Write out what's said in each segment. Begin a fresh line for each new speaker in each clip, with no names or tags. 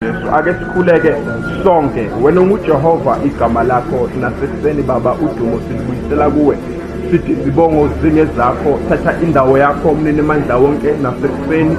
Jesu ake sikhuleke sonke wena unguJehova igama lakho nasekuseni baba udumo silibuyisela kuwe sithi zibongo zinge zakho thatha indawo yakho mnini mandla wonke nasekuseni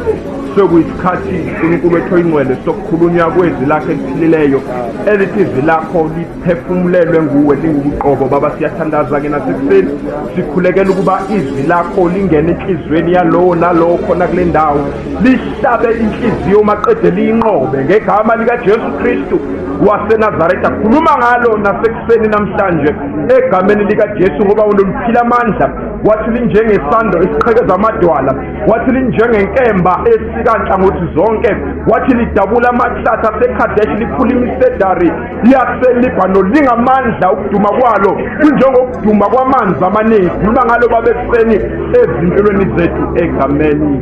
sekuyisikhathi uNkulunkulu ethoyingcwele sokukhulunywa kwezwi lakhe eliphilileyo elithi izwi lakho phefumulelwe nguwe lingubuqobo baba siyathandaza ke nasekuseni sikhulekela ukuba izwi lakho lingene enhliziyweni yalowo nalowo khona kule ndawo lihlabe inhliziyo maqede liyinqobe ngegama likajesu kristu wasenazaretha khuluma ngalo nasekuseni namhlanje egameni likajesu ngoba unoluphila amandla wathi linjengesando esiqhekeza amadwala wathi linjengenkemba esikanhlangothi zonke wathi lidabula amahlathi asekhadeshi liphula imisedari liyaselibhano lingamandla ukuduma kwalo kunjengokuduma kwamanzi amaningi khuluma ngalo babeseni ezimpilweni zethu egameni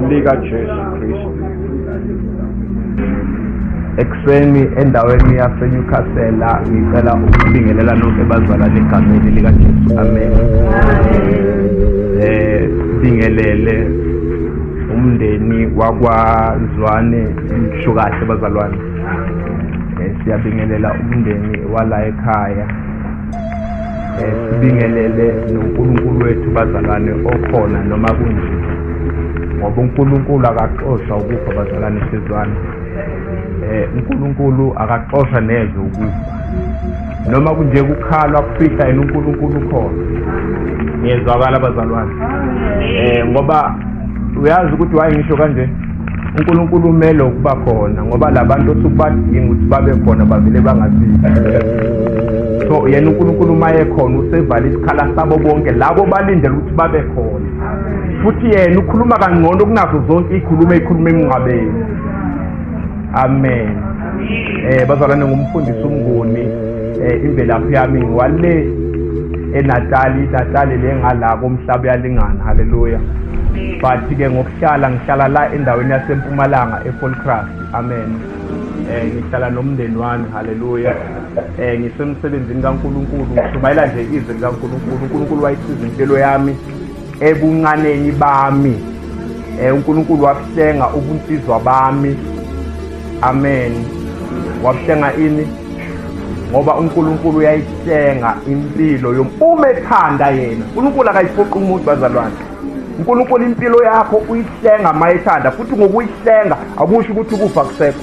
likajesu kristu ekuseni endaweni yasenyukhasela ngicela ukubingelela nonke bazalane egameni likajesu amen um bingelele umndeni wakwazwane ngisho kahle bazalwane Eh, siyabingelela umndeni wala ekhaya eh, sibingelele nonkulunkulu wethu bazalwane okhona noma kunje ngoba unkulunkulu akaxosha ukufa bazalwane sizwana eh, um unkulunkulu akaxosha neze ukufa noma kunje kukhalwa kufihla yena unkulunkulu khona ngiyezwakala bazalwane um ngoba uyazi ukuthi wayengisho kanje uNkulunkulu umele ukuba khona ngoba labantu osukubadinga ukuthi babe khona bavele bangasizi so yena uNkulunkulu uma ekhona usevala isikhala sabo bonke labo balindele ukuthi babe khona futhi yena ukhuluma kangcono kunazo zonke ikhuluma ikhuluma emngcwabeni amen eh bazalwane ngumfundisi umnguni eh imvelaphi yami ngiwale enatali inatali le ngala komhlaba uyalingana haleluya but-ke ngokuhlala ngihlala la endaweni yasempumalanga efolcraft amen um ngihlala nomndeni wami haleluya um ngisemsebenzini kankulunkulu ngishumayela nje izwi likankulunkulu unkulunkulu wayisiza impilo yami ebuncaneni bami eh uNkulunkulu wabuhlenga ubunsizwa bami amen wabuhlenga ini ngoba uNkulunkulu uyayihlenga impilo yomume ethanda yena uNkulunkulu akayiphoqi umuntu bazalwane uNkulunkulu impilo yakho uyihlenga mayethanda futhi ngokuyihlenga akusho ukuthi ukufa kusekho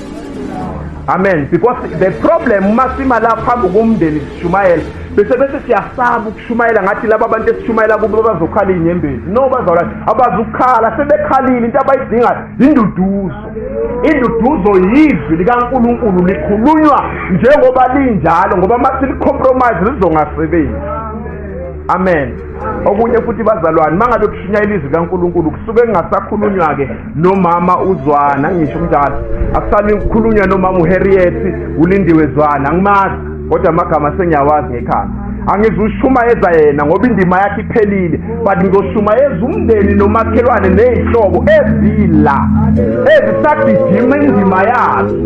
amen because the problem uma sima la phambi komndeni sishumayela bese bese siyasaba ukushumayela ngathi laba bantu esishumayela kubo bazokhala inyembezi no bazawula abazukhala sebekhalile into abayidingayo induduzo induduzo yizwi likankulunkulu likhulunywa njengoba linjalo ngoba uma silicompromise lizongasebenzi amen okunye futhi bazalwane mangabe kushinya ilizwi kaNkuluNkulu kusuke kungasakhulunywa ke nomama uzwana ngisho kunjalo akusali kukhulunywa nomama uHarriet ulindiwe zwana ngimazi kodwa amagama sengiyawazi ngekhanda angizushumayeza yena ngoba indima yakhe iphelile but ngizoshumayeza umndeni nomakhelwane nezihlobo ezila ezisagijima indima yazo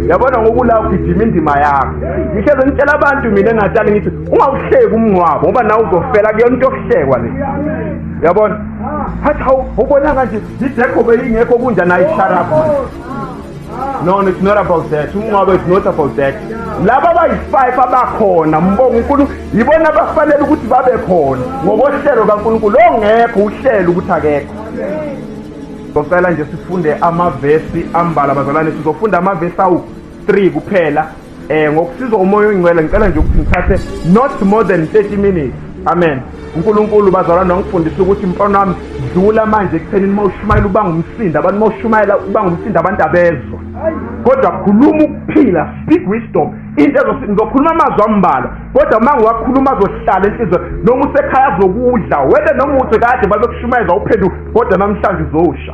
yabona ngokula ugijima indima yakho ngihleze ngitshela abantu mina engatshali ngithi ungawuhleki umngcwabo ngoba nawe uzofela kuyona into yokuhlekwa le yabona hathi hawu ubona kanje idekho beyingekho kunja nayo isharapha no it's not about that umngcwabo it's not about that laba abayi-five abakhona mbonga unkulunkulu yibona abafanele ukuthi babe khona ngokohlelo kankulunkulu ongekho uhlelo ukuthi akekho socela nje sifunde amavesi ambala bazalwane sizofunda amavesi awu-three kuphela Eh ngokusizwa umoya oyingcwele ngicela nje ukuthi ngithathe not more than 30 minutes. Amen. uNkulunkulu bazalwane wangifundisa ukuthi mfana wami dlula manje ekuthenini uma ushumayela uba ngumsindo abantu uma ushumayela uba ngumsindo abantu abezwa kodwa khuluma ukuphila speak wisdom into ngizokhuluma amazwi ambalwa kodwa uma ngiwakhuluma azohlala enhliziyo noma usekhaya azokudla wena noma uthi kade babekushumayeza uphenduka kodwa namhlanje uzowusha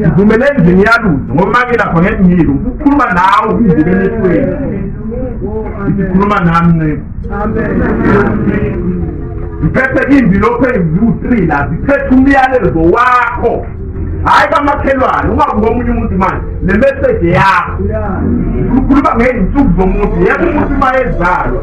ngivumele endlini yalutho ngoba uma ngilapha ngeke ngile ukukhuluma nawe ukungibeka emehlweni ngithi khuluma nami nceba ngiphethe iy'mbilopho eziwu-three la ziphethe umyalezo wakho hhayi kamakhelwane ungabuka omunye umuntu manje nemeseji yakho ukhuluma ngey'nsuku zomuntu yebo umuntu uma ezalwa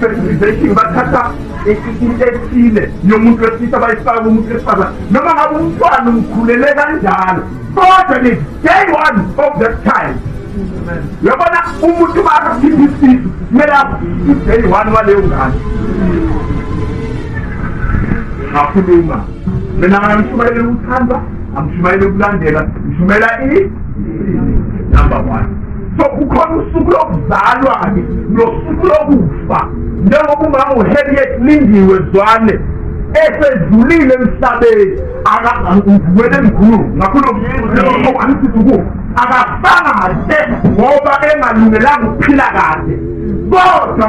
fertilization bathatha into ethile yomuntu wesilisa bayifaka umuntu wesifazane noma ngabe umntwana umkhulele kanjalo kodwa ni day one of that time yabona umuntu bakakhipha isisu kumele i-day one waleyo ngane ngakhuluma mina ngamshumayela uthanda angishumayele ukulandela ngishumela i number one so kukhona usuku lokuzalwa-ke nosuku lokufa njengoba umama uharriet lindiwe zwane esedlulile emhlabeni akangivumele emkhululu ngakhuluma angithi ukufa akafanga kahle ngoba engalungelanga ukuphila kahle kodwa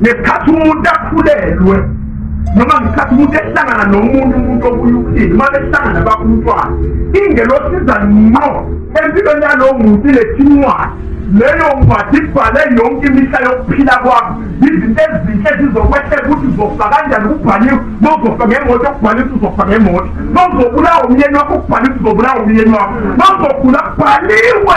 ngesikhathi umuntu akhulelwe noma ngesikhathi umuntu ehlangana nomuntu umuntu obuyukhile uma behlangana bakumntwana ingelosiza ngqo empilweni yalowo muntu ilethi incwadi leyo ncwadi ibhale yonke imihla yokuphila kwakho izinto ezinhle zizokwehleka ukuthi uzofa kanjani kubhaliwe nozofa ngemoto okubhale ukuthi uzofa ngemoto nozobulawa umyeni wakho kubhale ukuthi uzobulawa umyeni wakho nozogula kubhaliwe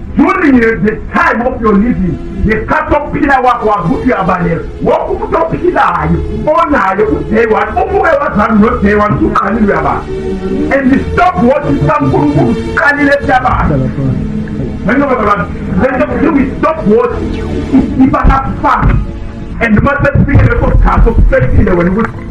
during the time of your living ngesikhathi sokuphila kwakho wazi ukuthi uyabaleka wonke umuntu ophilayo onayo uday one umuke wazami noday one usuqalile uyabala and stop watching sankulunkulu siqalile siyabala ngenobababana lento kuthiwa i-stop watch iba nakufana and uma sekufike leso sikhathi okusefile wena ukuthi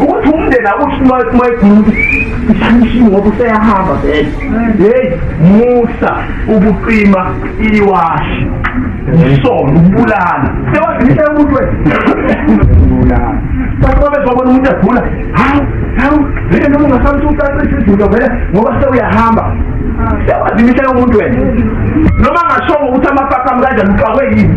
ukuthi umndeni akusimayigulu isishini ngoba useyahamba vele heyi musa ukuqima iwashi isono ukubulala sewazinisha umuntu webulala bathi babezobona umuntu egula hawu hawu vele noma ungasamthi ucacisa izinto vele ngoba sewuyahamba sewazinisha umuntu wena noma ngashongo ukuthi amapaka amkanjani uqakwe yini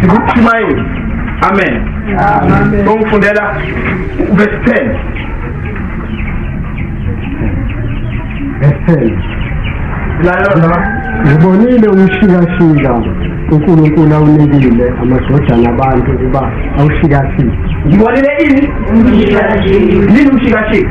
sikushumayeli amen ongifundela verse 10 verse 10 ngibonile
umshikashika uNkulunkulu awunikile amadodana abantu ukuba awushikashike ngibonile
ini yini umshikashika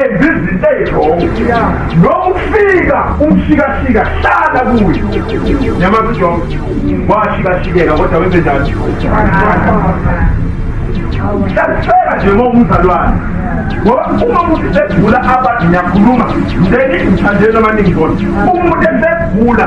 enza izinto ezirongo noma ukufika umshikashika hlala kuye nyamazi ujob washikashikeka kodwa wenze njani siyakufela nje ngoba umzalwane ngoba uma umuntu segula abade ngiyakhuluma then ngithandeni amaningi kodwa umuntu esegula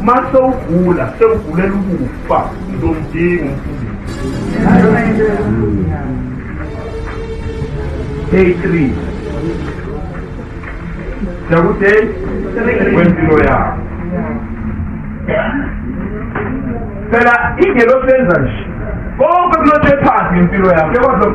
uma sewugula sewugulela ukufa ngizomdinga day three nakuday kwempilo yakho phela ingelosenza nje konke kulothephansi ngempilo yakho kodwa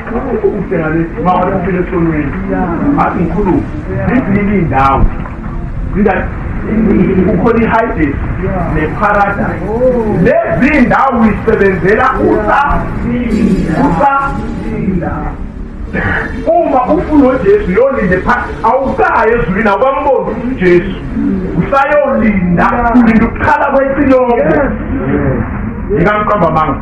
Ukuphi ukubheka lesi uma waphila esonweni? Athi ngikhulume. Izinike indawo. Inda kukhona iHades neParadise. Lezi indawo uyisebenzela usa usa uma ufuna uJesu yolinde phansi awukayi ezulwini awukamboni uJesu usayolinda ulinda ukukhala kwecilongo ngikamqamba amanga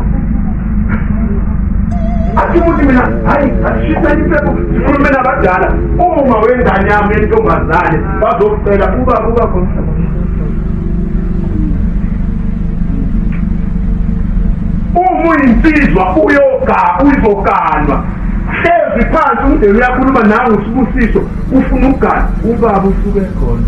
athimuthi mina hayi asishisa impepho sikhulume nabadala uma wengane yami entombazane bazocela kuba kuba khona uma uyinsizwa uyoga uyizoganwa hlezi phansi umdeni uyakhuluma nawe usibusiso ufuna ukugana ubaba usuke khona